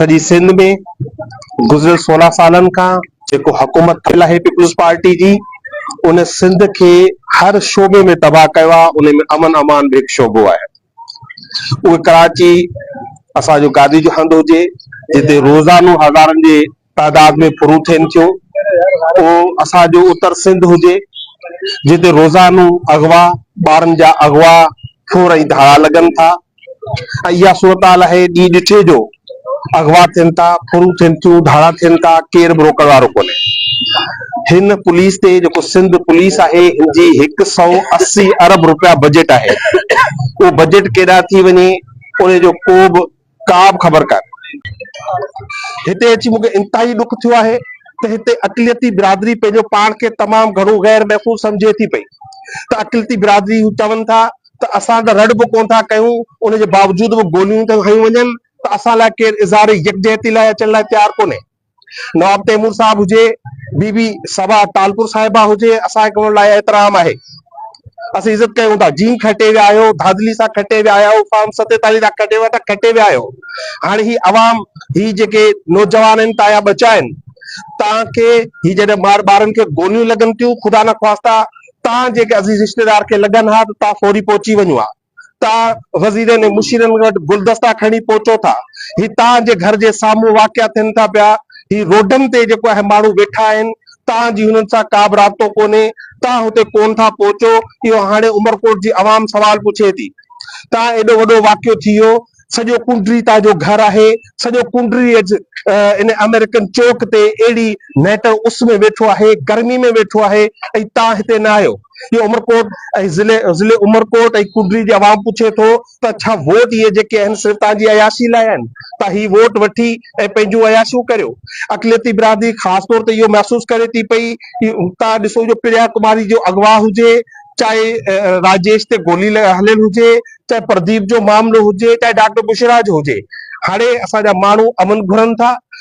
سڄي سنڌ ۾ گذريل سورهن سالن کان جيڪو حڪومت ٿيل آهي پيپلز پارٽي جي ان سنڌ کي هر شعبي ۾ تباهه ڪيو آهي ان ۾ امن امان به هڪ شعبو آهي اهو ڪراچي اسان جو گادي جو هنڌ هجي جتي روزانو هزارن جي تعداد ۾ ڦرون ٿين ٿيون اهو اسان جو اتر سنڌ هجي جتي روزانو اغوا ٻارن جا اغوا ڦور ۽ ڌاڙا لڳن ٿا اها صورتحال آهي ڏي ڏٺي جو اغوا ٿين ٿا، ڦرون ٿين ٿيون، ڌاڙا ٿين ٿا، ڪير به روڪڻ وارو ڪونهي. هن پوليس تي جيڪو سنڌ پوليس آهي هن جي هڪ سئو اسي ارب روپيا بجيٽ آهي اهو بجيٽ ڪيڏانهن ٿي وڃي ان جو ڪو به ڪا به خبر ڪانهي. هتي اچي مون کي انتهائي ڏک ٿيو آهي ته هتي اقليتي برادري پنهنجو پاڻ کي تمام گهڻو غير محفوظ سمجهي ٿي پئي ته اقليتي برادري هو چون ٿا ته اسان ته رڙ به ڪونه ٿا ڪيون، ان جي باوجود به گوليون ٿيون هنيون وڃن ته اسان لاء ڪير اظهار يڪجهتي لاء اچڻ لاء تيار ڪونهي. نواب تيمور صاحب هجي، بي بي صبا ٽالپور صاحبه هجي، اسان کي انهن لاء احترام آهي. اسين عزت ڪيون ٿا. جيئن کٽي ويا آهيو، ڌاڌلي سان کٽي ويا آهيو، فارم ستيتاليهه سان کٽي ويا ته کٽي ويا آهيو. هاڻي هي عوام، هي جيڪي نوجوان آهن تانجا ٻچا آهن، توهان کي هي جڏهن ٻارن کي گوليون لڳن ٿيون، خدا نخواسته توهان جيڪي عزيز رشتيدار کي لڳن ها ته توهان فوري پهچي وڃو ها. توهان وزيرن ۽ مشيرن وٽ گلدستا کڻي پهچو ٿا. هي توهان جي گهر جي سامهون واقع ٿين ٿا پيا. هي روڊن تي جيڪو اهي ماڻهو ويٺا آهن، توهان جي هنن سان ڪابه رابطو ڪونهي. توهان هتي ڪونه ٿا پهچو. اهو هاڻي عمرڪوٽ جي عوام سوال پڇي ٿي. توهان ايڏو وڏو واقعو ٿي ويو. سڄو ڪنڊري تان جو گهر آهي، سڄو ڪنڊري اڄ ان آمريڪن چوڪ تي اهڙي نهٽ اس ۾ ويٺو آهي، گرمي ۾ ويٺو آهي ۽ تان هتي نه آيو. اهو عمرڪوٽ ۽ ضلع ضلع عمرڪوٽ ۽ ڪنڊري جي عوام پڇي ٿو ته ڇا ووٽ اهي جيڪي آهن صرف تهان جي عياشي لاء آهن ته هي ووٽ وٺي ۽ پنهنجون عياشيون ڪريو. اقليتي برادري خاص طور تي اهو محسوس ڪري ٿي پئي تان ڏسو جو پريا ڪماري جو اغوا هجي چاهي راجيش تي گولي هليل هجي چاهي پرديپ جو معاملو هجي چاهي ڊاڪٽر بشرا جو هجي هاڻي اسان جا ماڻهو امن گهرن ٿا.